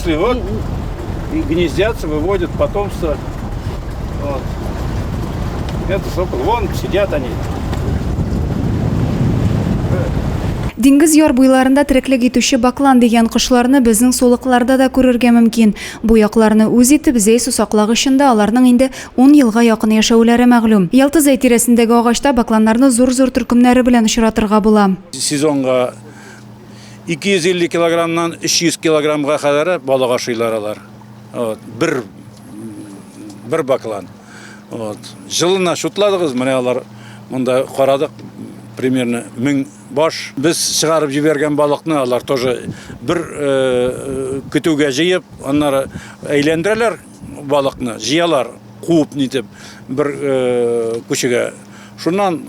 Если вот и гнездятся, выводят потомство. Вот. Это сокол. Вон сидят они. Диңгез яр буйларында тереклек итүче баклан дигән кошларны безнең сулыкларда да күрергә мөмкин. Бу якларны үз итеп зәй сусаклагычында аларның инде 10 елга якын яшәүләре мәгълүм. Ялты зәй тирәсендәге агачта бакланнарны зур-зур төркемнәре белән очратырга була. Сезонга 250 килограммнан 300 килограммга кадәр балык ашыйлар алар. Вот, бер бер баклан. Вот. Жылына шутладыгыз, менә алар монда карадык примерно 1000 баш. Без чыгарып җибәргән балыкны алар тоже бер э, э, көтүгә җыеп, аннары әйләндерәләр. Балыкны җыялар, куып нитеп, бер күчегә. Шуннан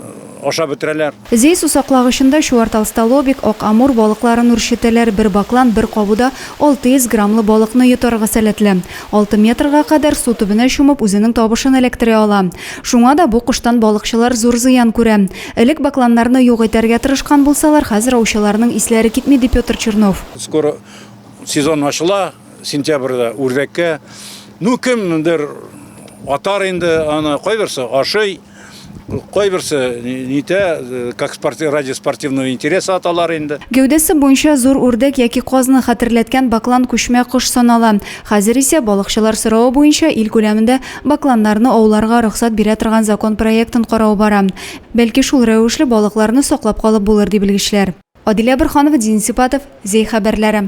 ашап бетерәләр. Зәй сусаклагычында чуарталстолобик, ак амур балыкларын үрчетәләр. Бер баклан бер кабуда 600 граммлы балыкны йотарга сәләтле. Алты метрга кадәр су төбенә чумып, үзенең табышын эләктерә ала. Шуңа да бу коштан балыкчылар зур зыян күрә. Элек бакланнарны юк итәргә тырышкан булсалар, хәзер аучыларның исләре китми, ди Петр Чернов. Скоро сезон ачыла. Сентябрьдә үрдәккә, ну кемдер атар инде аны, кайберсе ашый, кайберсе нитә, как спорти, ради спортивного интереса аталар инде. Гәүдәсе буенча зур үрдәк яки казны хәтерләткән баклан күчмә кош санала. Хәзер исә, балыкчылар соравы буенча, ил күләмендә бакланнарны ауларга рөхсәт бирә торган закон проектын карау бара. Бәлки шул рәвешле балыкларны саклап калып булыр, ди белгечләр. Адилә Борханова, Дин Сипатов, Зәй хәбәрләре.